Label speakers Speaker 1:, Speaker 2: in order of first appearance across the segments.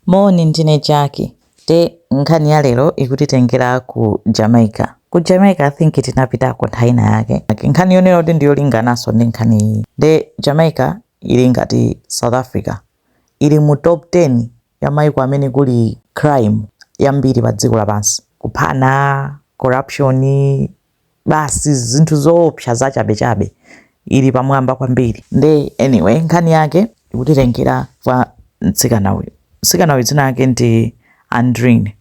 Speaker 1: Moni, ndine Jaki. Nde nkhani ya lero ikutitengera ku Jamaica. Ku Jamaica I think tinapitako nthawi ina yake. Like, nkhani yonena kuti ndiyolingananso ndi nkhani iyi. Nde Jamaica ili ngati South Africa. Ili mu top 10 ya maiko amene kuli crime yambiri pa dziko lapansi. Kuphana, corruption, basi zinthu zoopsa zachabechabe ili pamwamba kwambiri nde anyway nkhani yake ikutitengera kwa mtsikana uyu mtsikana uyu dzina lake ndi andrini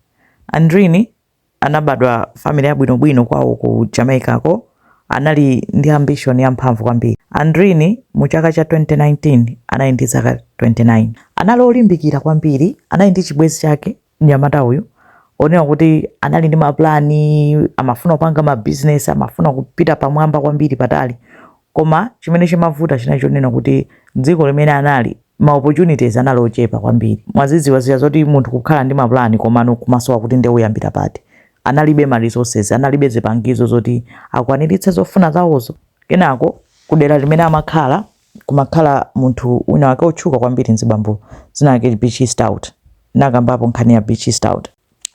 Speaker 1: andrini anabadwa mu family yabwinobwino kwawo ku jamaica ko anali ndi ambition yamphamvu kwambiri andrini mu chaka cha 2019 anali ndi zaka 29 anali olimbikira kwambiri anali ndi chibwezi chake mnyamata uyu onena kuti anali ndi mapulani amafuna kupanga mabizinesi amafuna kupita pamwamba kwambiri patali koma chimene chimavuta chinali chonena kuti dziko limene anali ma opportunities anali ochepa kwambiri mwazidziwa zija zoti munthu kukhala ndi mapulani komano kumasowa kuti ndiye uyambira pati analibe ma resources analibe zipangizo zoti akwaniritse zofuna zawozo kenako kudera limene amakhala kumakhala munthu wina wake otchuka kwambiri nzibambo dzina lake Beachy Stout nakambapo nkhani ya Beachy Stout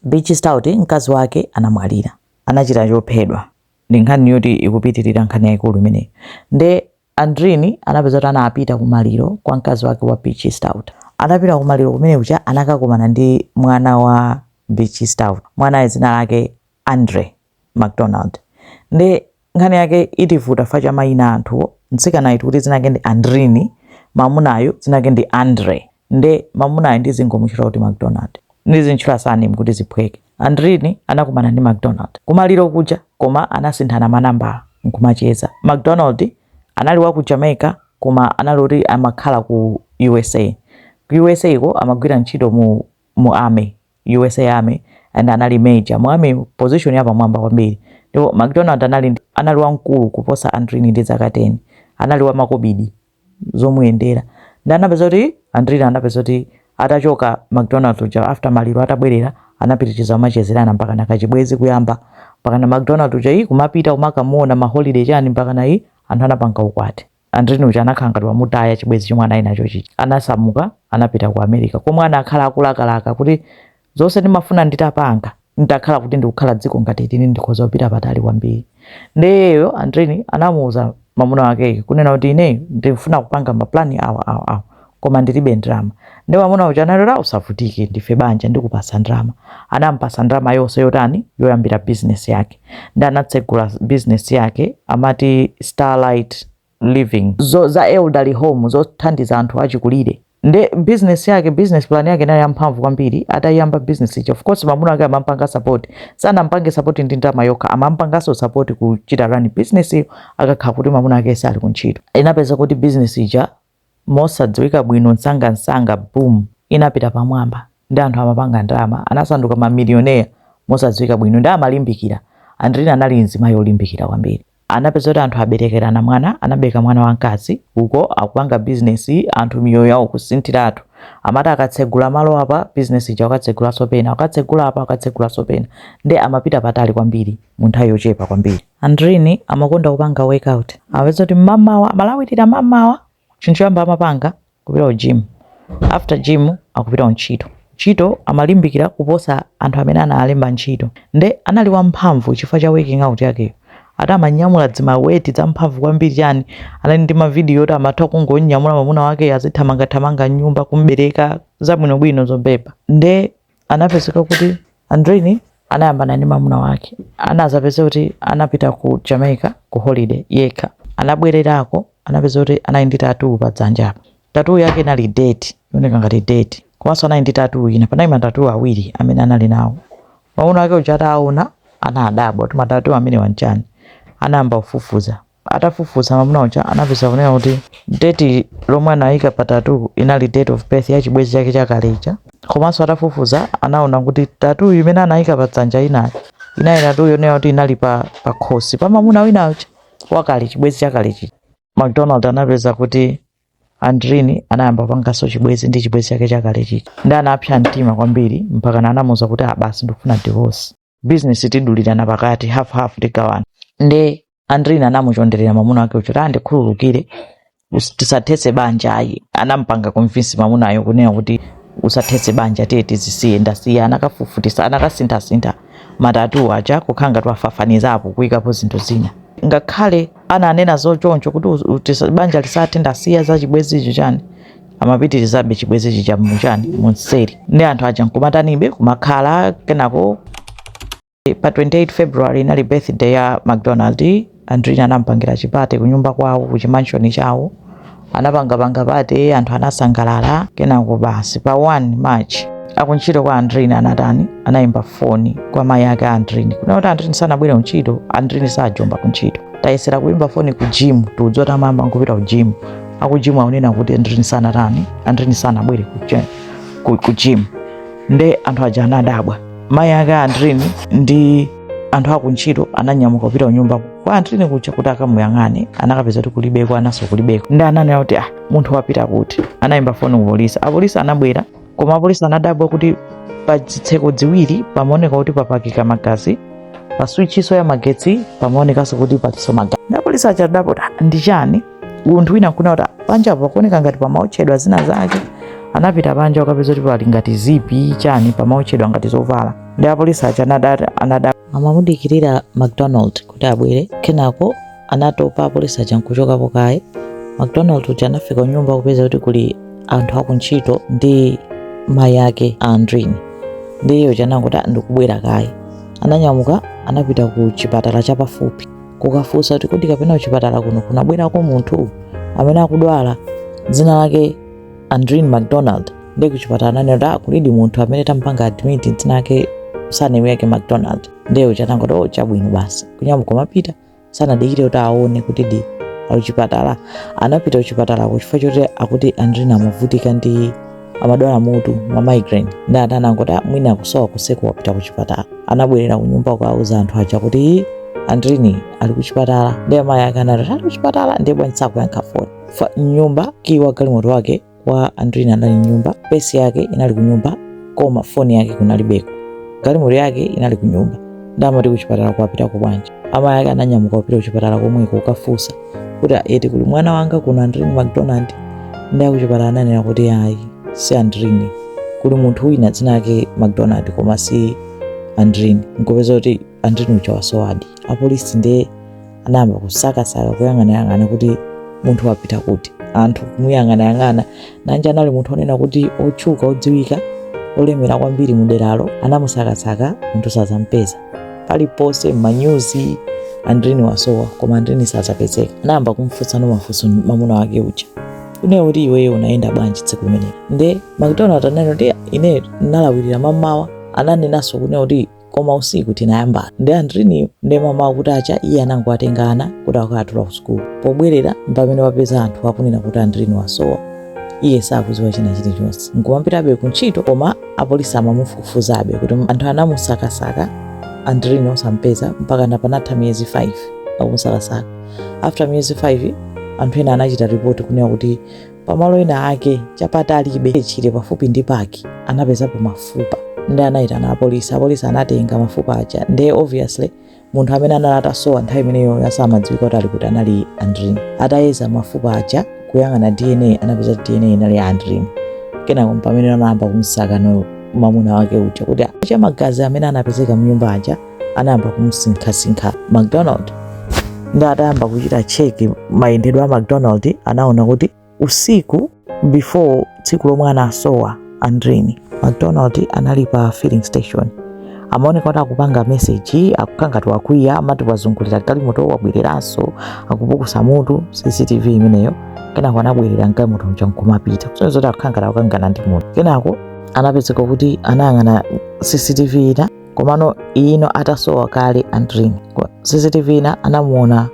Speaker 1: Beachy Stout mkazi wake anamwalira anachita chophedwa ndi nkhani yoti ikupitirira nkhani yaikulu imeneyo nde Andrini anapeza kuti anapita kumaliro kwa mkazi wake wa Beachy Stout anapita kumaliro kumene kuja anakakumana ndi mwana wa Beachy Stout mwana dzina lake Andre macdonald nde nkhani yake itivuta chifukwa cha mayina anthuwo mtsikanayu tikuti dzina lake ndi andrini mamunayu dzina lake ndi andre nde mamunayu ndizingomuchula kuti macdonald ndizintchula surname kuti ziphweke andrini anakumana ndi macdonald kumaliro kuja koma anasinthana manambala nkumacheza macdonald anali wa ku jamaica koma anali kuti amakhala ku usa ku usa ko amagwira ntchito mu mu army usa army and anali major mu army position ya pamwamba kwambiri ndipo mcdonald anali ndi- anali wamkulu kuposa andrini ndi zaka 10 anali wamakobidi zomuyendera ndi anapeza kuti andrini anapeza kuti atachoka mcdonald uja after maliro atabwerera anapitiriza kumachezerana mpakana kachibwezi kuyamba mpakana mcdonald uja kumapita kumakamuona maholiday chani mpakana anthu anapanga ukwati Andrini uja anakhala ngati wamutaya chibwezi chomwe anali nacho chija. Anasamuka anapita ku America komwe anakhala akulakalaka kuti zonse ndimafuna nditapanga nditakhala kuti ndikukhala dziko ngati ili ndikhoza kupita patali kwambiri. Nde iyeyo Andrini anamuuza mamuna wakeyo kunena kuti ineyo ndikufuna kupanga mapulani awa awa awa. koma ndilibe ndalama nde mwamuna uja analora usavutike ndife banja ndikupasa ndalama anampasa ndalama yonse yotani yoyambira bizinesi yake nde anatsegula bizinesi yake amati starlight living zo, za elderly home zothandiza anthu achikulire nde business yake business plan yake nayo yamphamvu kwambiri atayiyamba business ijayo of course mamuna ake amampanga support sanampange support ndi ndalama yokha amampanganso support kuchita run business iyo akakhala kuti mamuna ake sali kuntchito inapezeka kuti business ija mosadziwika bwino msangamsanga boom inapita pamwamba ndi anthu amapanga ndalama anasanduka mamilioneya mosadziwika bwino ndi amalimbikira andrini anali mzimayi olimbikira kwambiri anapezeka kuti anthu aberekerana mwana anabereka mwana wamkazi uko akupanga bizinesi anthu miyoyo yawo kusinthiratu amati akatsegula malo apa bizinesi ija akatsegulanso pena akatsegula apa akatsegulanso pena ndi amapita patali kwambiri mu nthawi yochepa kwambiri Andrini amakonda kupanga workout. Amapezeka kuti mmamawa, amalawirira mmamawa, chinthu choyamba amapanga kupita ku gym. After gym akupita kuntchito. Ntchito amalimbikira kuposa anthu amene anawalemba ntchito. Nde anali wamphamvu chifukwa cha working out yakeyo. Ati amanyamula zima weight zamphamvu kwambiri chani. Anali ndi ma video oti amatha kungomnyamula mwamuna wakeyo azithamangathamanga m'nyumba, kum'bereka, zabwinobwino zobhebha. Nde anapezeka kuti andrini anayambana ndi mamuna wake anazapezeka kuti anapita ku jamaica ku holiday yekha anabwererako anapezeka kuti anali ndi tatuu pa dzanja apa tatuu yake inali date yooneka ngati date komanso anali ndi tatuu ina panali matatuu awiri amene anali nawo mamuna wake uja ataona anadabwa kuti matatuu amenewa nchani anayamba kufufuza Atafufuza mwamuna uja anapeza kunena kuti date lomwe anayika pa tattoo inali date of birth ya chibwezi chake chakale chija. Komanso atafufuza anaona kuti tattoo imene anayika pa dzanja inayo inali tattoo yonena kuti inali pa pa khosi pa mwamuna wina uja wakale chibwezi chakale chija. McDonald anapeza kuti Andrini anayamba kupanganso chibwezi ndi chibwezi chake chakale chija. Ndi anapsa mtima kwambiri mpaka anamuuza kuti basi ndikufuna divorce. bizinesi tidulirana pakati hafu hafu tigawana nde andrini anamuchonderera mwamuna wake kuti ndikhululukire us- tisathetse banja ayi anampanga convince mwamunayo kunena kuti usathetse banja tiye tizisiye ndasiya anakafufutisa anakasinthasintha matatuu aja kukhala ngati wafafanizapo kuyikapo zinthu zina ngakhale ananena zochoncho kuti us- utisa- banja lisathe ndasiya zachibwezicho chani amapitirizabe chibwezi chija muchani munseri ndi anthu aja nkumatanibe kumakhala kenako pa 28 february inali birthday ya mcdonald andrini anampangira chipate kunyumba kwawo kuchimanshoni chawo anapangapanga pate anthu anasangalala kenako basi pa 1 march akuntchito kwa andrini anatani anayimba foni kwa mayi ake a andrini kunena kuti andrini sanabwere kuntchito andrini sajomba kuntchito tayesera kuyimba foni ku jimu tiudziwa zoti amayamba nkupita ku jimu aku gym akunena kuti andrini sanatani andrini sanabwere ku gym nde anthu aja anadabwa mayi ake a andrini ndi anthu akuntchito ananyamuka kupita kunyumba kwa andrini kuja kuti akamuyang'ane anakapeza kuti kulibeko anaso kulibeko nde ananena kuti ah munthu wapita kuti anayimba foni ku polisi apolisi anabwera koma apolisi anadabwa kuti pa zitseko ziwiri pamaoneka kuti papakika magazi pa switchiso ya magetsi pamaonekanso kuti palinso magazi apolisi aja anadabwa kuti ndi chani munthu wina nkunena kuti panja pakuoneka ngati pamaotchedwa zina zake anapita panja kukapeza kuti pali ngati zipi chani pamaotchedwa ngati zovala nde apolisi aja anadati anada amamudikirira mcdonald kuti abwere kenako anatopa apolisi aja nkuchokapo kaye mcdonald uja anafika kunyumba kupeza kuti kuli anthu akuntchito ndi mayi ake a andrini ndiye uja anangoti ndikubwera kaye ananyamuka anapita ku chipatala chapafupi kukafunsa kuti kodi kapena kuchipatala kuno kunabwerako munthu amene akudwala dzina lake andrin mcdonald nde kuchipatala ananena kuti ah, kulidi munthu amene tampanga admit dzina lake surname yake mcdonald ndiye uja anangoti oh, chabwino basi kunyamuka kumapita sanadikire kuti aone kuti di akuchipatala anapita kuchipatalako chifukwa choti akuti andrin amavutika ndi amadwala mutu ma migraine nde anthu anangoti "Ah, mwina akusowa kuseko wapita ku chipatala anabwerera ku nyumba kuwauza anthu aja kuti "Ii, andrini ali ku chipatala nde amayi ake anati ali ku chipatala ndiye bwanji sakuyankha foni m'nyumba kiyi wa galimoto wake wa andrini anali m'nyumba purse yake inali ku nyumba koma foni yake kunalibeko galimoto yake inali ku nyumba nde amati ku chipatalako wapitako bwanji amayi ake ananyamuka kupita ku chipatala komweko kukafunsa kuti eti kuli mwana wanga kuno andrini macdonald nde akuchipatala ananena kuti ayi si andrini kuli munthu wina dzina lake macdonald koma si andrini nkupeza kuti andrini uja wasowadi apolisi ndiye anayamba kusakasaka kuyang'anayang'ana kuti munthu wapita kuti anthu kumuyang'anayang'ana Nanji anali munthu onena kuti otchuka odziwika olemera kwambiri mu deralo anamusakasaka munthu sazampeza paliponse m'manyuzi andrini wasowa koma andrini sazapezeka anayamba kumfunsano mafunso mamuna wake uja kunena kuti iweyo unayenda bwanji tsiku limenelo nde macdonald ananena kuti ine nalawirira mamawa ananenanso kunena kuti koma usiku tinayambana ndi andriniyo nde mamawa kutacha iye anangowatenga ana kuti akawatula ku sukulu pobwerera mpamene wapeza anthu akunena kuti andriniyo wasowa iye sakuziwa china chilichonse nkumapitabe ku ntchito koma apolisi amamufufuzabe kuti anthu anamusakasaka andriniyo osampeza mpakana panatha miyezi 5 akumusakasaka after miyezi 5 anthu ena anachita ripoti kunena kuti pamalo ena ake chapatalibe chire pafupi ndi paki anapezapo mafupa ndi anayitana apolisi apolisi anatenga mafupa aja ndiye obviously munthu amene anali atasowa nthawi imeneyo yosamadziwika kuti ali kuti anali andrin atayeza mafupa aja kuyang'ana dna anapeza kuti dna inali ya andrin kenako mpamene anayamba kumsaka no mamuna wake uja kuti aja magazi amene anapezeka mnyumba aja anayamba kumusinkhasinkha macdonald nde atayamba kuchita cheki mayendedwe a macdonald anaona kuti usiku before tsiku lomwe anasowa andrini macdonald anali pa filling station amaoneka kuti akupanga meseji akukangati wakwiya amati wazungulira galimoto wabwereranso akupukusa mutu cctv imeneyo kenako anabwerera mgalimoto mja nkumapita kusonyeza kuti akukangana akukangana ndi munthu kenako anapezeka kuti anayang'ana cctv ina komano ino atasowa kale andrin cctv ina anamuona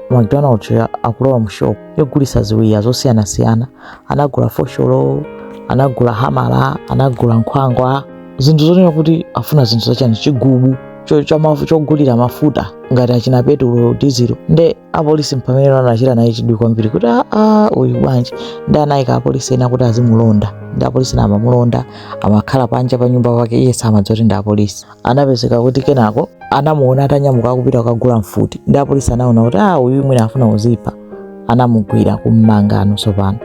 Speaker 1: mcdonald yo akulowa mu shop yogulisa ziwiya zosiyanasiyana anagula fosholo anagula hamala anagula nkhwangwa zinthu zonena kuti afuna zinthu zachani chigubu cho- cha mafu- chogulira mafuta ngati achina petulo dizilo nde apolisi mpamene anachita naye chidwi kwambiri kuti aa uyu bwanji nde anayika apolisi ena kuti azimulonda ndi apolisi ena amamulonda amakhala panja pa nyumba pake iye samadziwa kuti ndi apolisi anapezeka kuti kenako anamuona atanyamuka akupita kukagula mfuti ndi apolisi anaona kuti a uyu mwina afuna kuzipha anamugwira kummangano tsopano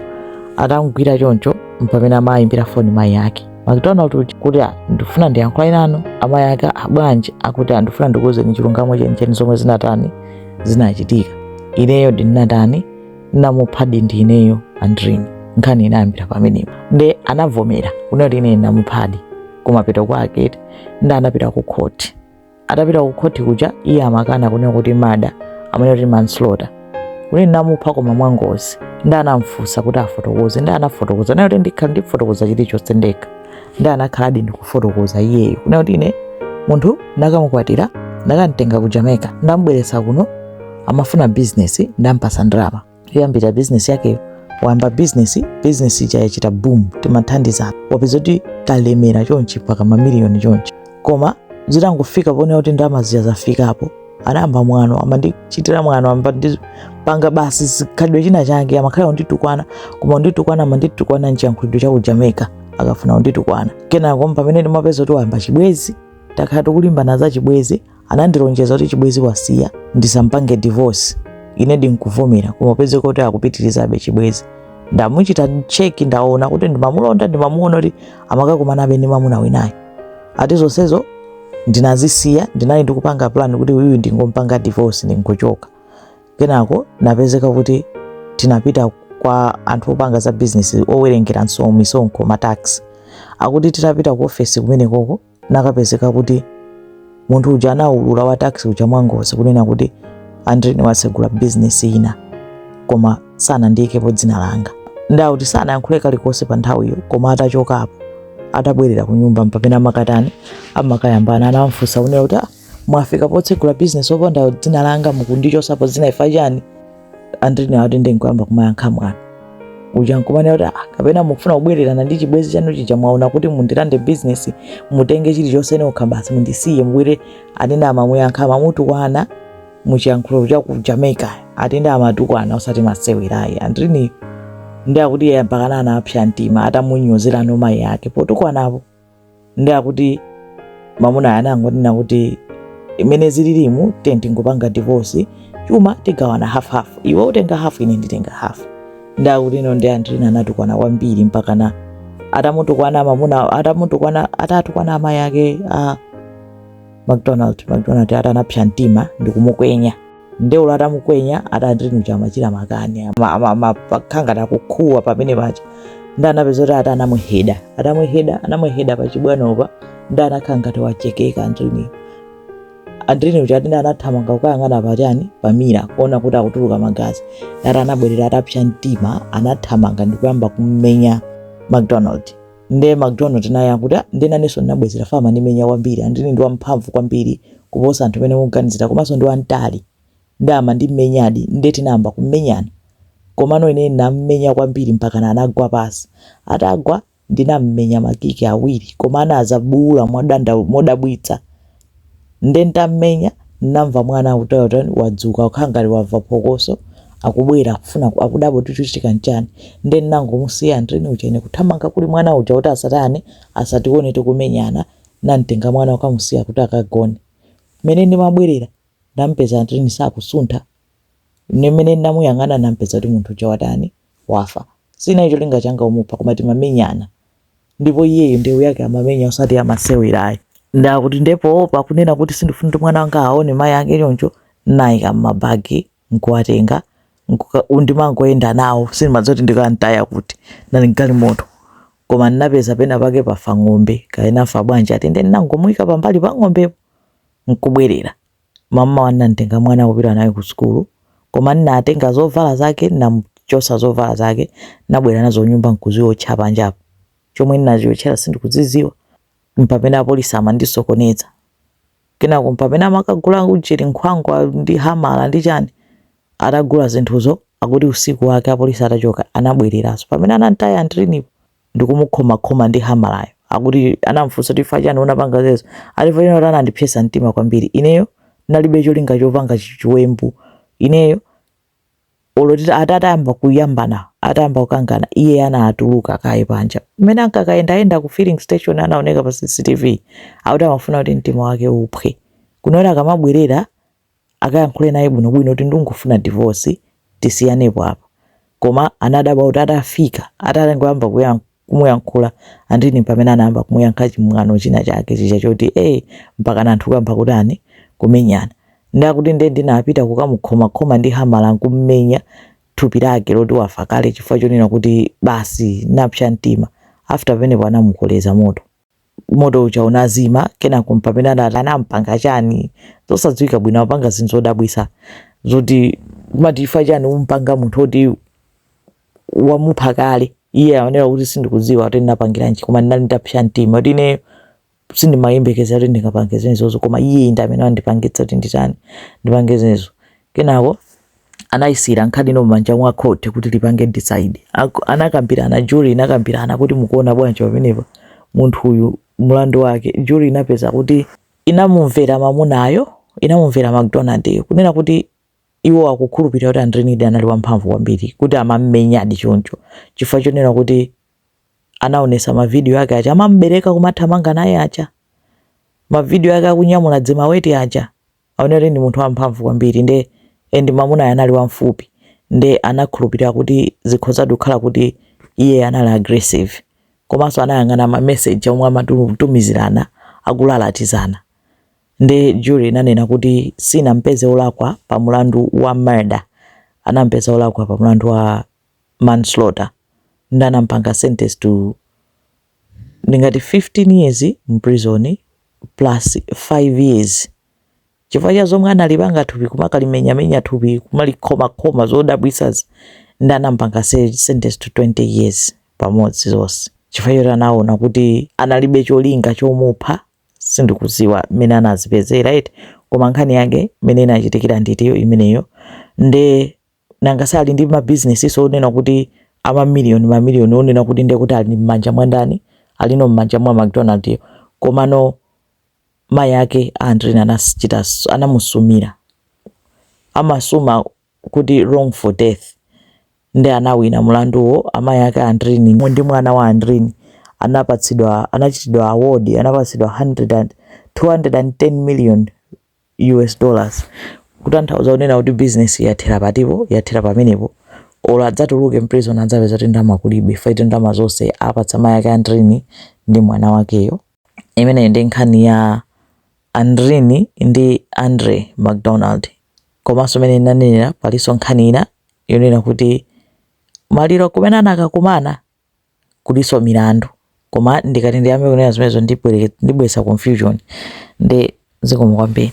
Speaker 1: atamugwira choncho mpamene amayimbira foni mayi yake macdonald uja kuti "Ah, ndifuna ndiyankhulane nanu amayi ake "Ah, bwanji akuti "Ah, ndifuna ndikuwuzeni chilungamo chenicheni zomwe zinatani zinachitika ineyo ndinatani namuphadi ndi ineyo andrini nkhani inayambira pamenepo nde anavomera kunena kuti ine namuphadi kumapeto kwake nde anapita ku khoti atapita ku khoti kuja iye amakana kunena kuti murder amanena kuti manslaughter kuti namupha koma mwangozi nde anamfunsa kuti afotokoze nde anafotokoza nati ndikhala ndifotokoza chilichonse ndekha nde anakhaladi ndikufotokoza iyeyo kunena kuti ine munthu ndakamukwatira ndakamtenga ku jamaica ndambweretsa kuno amafuna bizinesi ndampatsa ndalama yoyambira bizinesi yakeyo wayamba bizinesi bizinesi ija yachita boom timathandizana wapeza kuti talemera chonchi mpaka mamiliyoni chonchi koma zitangofika ponena kuti ndalama zija zafikapo anayamba mwano amandichitira mwano amandipanga basi chikhalidwe china chake amakhala kunditukwana koma kunditukwana amanditukwana mchiyankhulidwe cha ku jamaica akafuna kunditukwana kenako pamene ndimapeza kuti wayamba chibwezi takhala tikulimbana za chibwezi anandilonjeza kuti chibwezi wasiya ndisampange divorce ine ndinkuvomera koma upeze kuti akupitirizabe chibwezi ndamuchita cheki ndaona kuti ndimamulonda ndimamuona kuti amakakumanabe ndi mamuna winayo ati zonsezo ndinazisiya ndinali ndikupanga plan kuti uyu ndingompanga divorce ndingochoka kenako nkupezeka kuti tinapita kwa anthu opanga za business owerengera nso misonkho matax akuti titapita ku ofesi kumenekoko nkukapezeka kuti munthu uja anaulula wa tax uja mwangozi kunena kuti andrini wasegula business ina koma sanandiikepo dzina langa. Ndauti sanayankhule kalikonse pa nthawiyo koma atachokapo atabwerera ku nyumba mpamene amakatani amakayambana anamfunsa kunena kuti ah, mwafika potsegula bizinesi opanda dzina langa mukundichosapo dzina ifa chani andrini akuti ndikuyamba kumayankha mwano uja nkumanena kuti ah, kapena mukufuna kubwererana ndi chibwenzi chanu chija mwaona kuti mundilande bizinesi mutenge chilichonse nokha basi mundisiye mubwere anene amamuyankha amamutukwana muchiyankhulo cha ku jamaica ati nde amatukwana osati masewerayi andrini ndi akuti iye mpakana anapsya mtima atamunyozeranso mayi ake potukwanapo ndi akuti mamunayo anangonena kuti mmene zililimu ndingopanga divorce chuma tigawana half half iwe utenga half ine nditenga half ndi akuti iyeyo ndi andrini anatukwana kwambiri mpakana atamutukwana mamuna atamutukwana atatukwana amayi ake a macdonald macdonald ati anapsya mtima ndikumukwenya nde uyo atamukwenya andrini uja amachita makani ama- ama- ama- amakhala ngati akukuwa pamene paja nde anapezeka kuti ati anamuheda atamuheda anamuheda pachibwanopa nde anakhala ngati wachekeka andrini andrini uja ati nde anathamanga kukayang'ana patani pamira kuona kuti akutuluka magazi ati anabwerera atapsya mtima anathamanga ndikuyamba kummenya macdonald nde mcdonald naye akuti ah, nde nanenso ndinabwezera ifa amandimenya kwambiri andrini ndi wamphamvu kwambiri kuposa anthu amene mukuganizira komanso ndi wamtali nde amandimenyadi nde tinayamba kumenyana komano ine ndinammenya kwambiri mpakana anagwa pansi atagwa ndinammenya makiki awiri koma anadzabuula modabwitsa nde ntammenya namva mwana kuti watani wadzuka kukhala ngati wamva phokoso akubwera akufuna akudabwa kuti chikuchitika nchani nde nnangomusiya andrini uja ine kuthamanga kuli mwana uja kuti asatani asatione tikumenyana namtenga mwana kukamusiya kuti akagone mmene ndimabwerera ndampeza andrini sakusuntha ine mmene ndinamuyang'ana nampeza kuti munthu uja watani wafa sinali cholinga changa kumupha koma timamenyana ndipo iyeyo ndewu yake amamenya osati yamasewerayi ndakuti ndipo pakunena kuti sindifuna kuti mwana wanga aone mayi ake choncho nayika mmabagi nkuwatenga ndimangoyenda nawo sindimadziwa kuti ndikantaya kuti nali mgalimoto koma ndinapeza pena pake pafa ng'ombe kaya inafa bwanji ati nde ndinangomuyika pambali pa ng'ombepo nkubwerera Mammawa nnamtenga mwana kupita naye ku sukulu, koma nnatenga zovala zake, nnamuchosa zovala zake, nnabwera nazo kunyumba nkuziotcha panja apa. Chomwe nnaziotchera sindikudziziwa. Mpamene apolisi amandisokoneza. Kenako mpamene amakagula ujeni nkhwangwa ndi hamala ndi chani. Atagula zinthuzo, akuti usiku wake apolisi atachoka anabwereranso. Pamene anantaya Andrini po. ndikumukhomakhoma ndi hamalayo akuti anamfunsa kuti chifukwa chani unapanga zezo ati chifukwa chani anandipsetsa mtima kwambiri ineyo nalibe cholinga chopanga chi- chiwembu ineyo olo ati atayamba kuyambana atayamba kukangana iye anatuluka kaye panja mmene ankakayendayenda ku filling station anaoneka pa cctv akuti amafuna kuti mtima wake uphwe kunena kuti akamabwerera akayankhule naye bwinobwino kuti ndingofuna divorce tisiyanepo apa. Koma anadabwa kuti atafika, atangoyamba kumuyankhula Andrini mpamene anayamba kumuyankha chimwano china chake chija choti eh mpakana anthu kuyamba kutani kumenyana. Ndiye akuti ndiye ndinapita kukamukhomakhoma ndi hamala n'kumumenya thupi lake loti wafa kale chifukwa chonena kuti basi napsa mtima. After pamenepo anamukoleza moto. moto uja unazima kenako mpamene anampanga chani zosadziwika bwino apanga zinthu zodabwisa zoti kumati ifa chani umpanga munthu oti wamupha kale iye ananena kuti sindikudziwa kuti ndinapangiranji koma ndinali nditapsa mtima kuti ineyo sindimayembekezera kuti ndingapange zimenezo koma iye ndi amene andipangitsa kuti nditani ndipange zimenezo kenako anayisiyira nkhani ino m'manja mwa court kuti lipange decide Ak- anakambirana jury inakambirana kuti mukuona bwanji pamenepa munthu uyu mlandu wake jury inapeza kuti inamumvera mamunayo inamumvera mcdonald kunena kuti iwo akukhulupirira kuti Andrinidi anali wamphamvu kwambiri kuti amammenyadi choncho chifukwa chonena kuti anaonesa mavidiyo ake aja amambereka kumathamanga naye aja mavidiyo ake akunyamula dzimaweti aja aone kuti ndi munthu wamphamvu kwambiri nde and mamunayo anali wamfupi nde anakhulupirira kuti zikhoza kukhala kuti iye anali aggressive komanso anayang'ana ma message omwe amatumizirana akulalatizana nde jury inanena kuti sinampeze olakwa pa mulandu wa murder anampeza olakwa pa mulandu wa manslaughter nde anampanga sentence to ngati 15 years mprison plus 5 years chifukwa cha zomwe analipanga thupi kumakalimenyamenya thupi kumalikhomakhoma zodabwisazi nde anampanga sentence to 20 years pamodzi zonse chifukwa choti anaona kuti analibe cholinga chomupha sindikuziwa mmene anazipezera eti koma nkhani yake mmene inachitikira nditiyo imeneyo nde nanga si ali ndi mabizinesiso onena kuti amamiliyoni mamiliyoni onena kuti ndiye kuti ali m'manja mwa ndani alino m'manja mwa mcdonald yo komano mayi ake a andrini anachita anamusumira amasuma kuti wrongful death ndi anawina mlanduwo amayi ake a andrini mu- ndi mwana wa andrini anapatsidwa anachitidwa award anapatsidwa 100 and- 210 million us dollars kutanthauza kunena kuti business yathera patipo yathera pamenepo olo adzatuluke mprison adzapeza kuti ndalama kulibe ife kuti ndalama zonse apatsa mayi ake andrini ndi mwana wakeyo imeneyi ndi nkhani ya andrini ndi andre mcdonald komanso imene ndinanenera palinso nkhani ina yonena kuti maliro kumene anakakumana kulinso milandu koma ndikati ndiyambe kunena zimenezo ndibwere ndibweretsa confusion nde zikomo kwambiri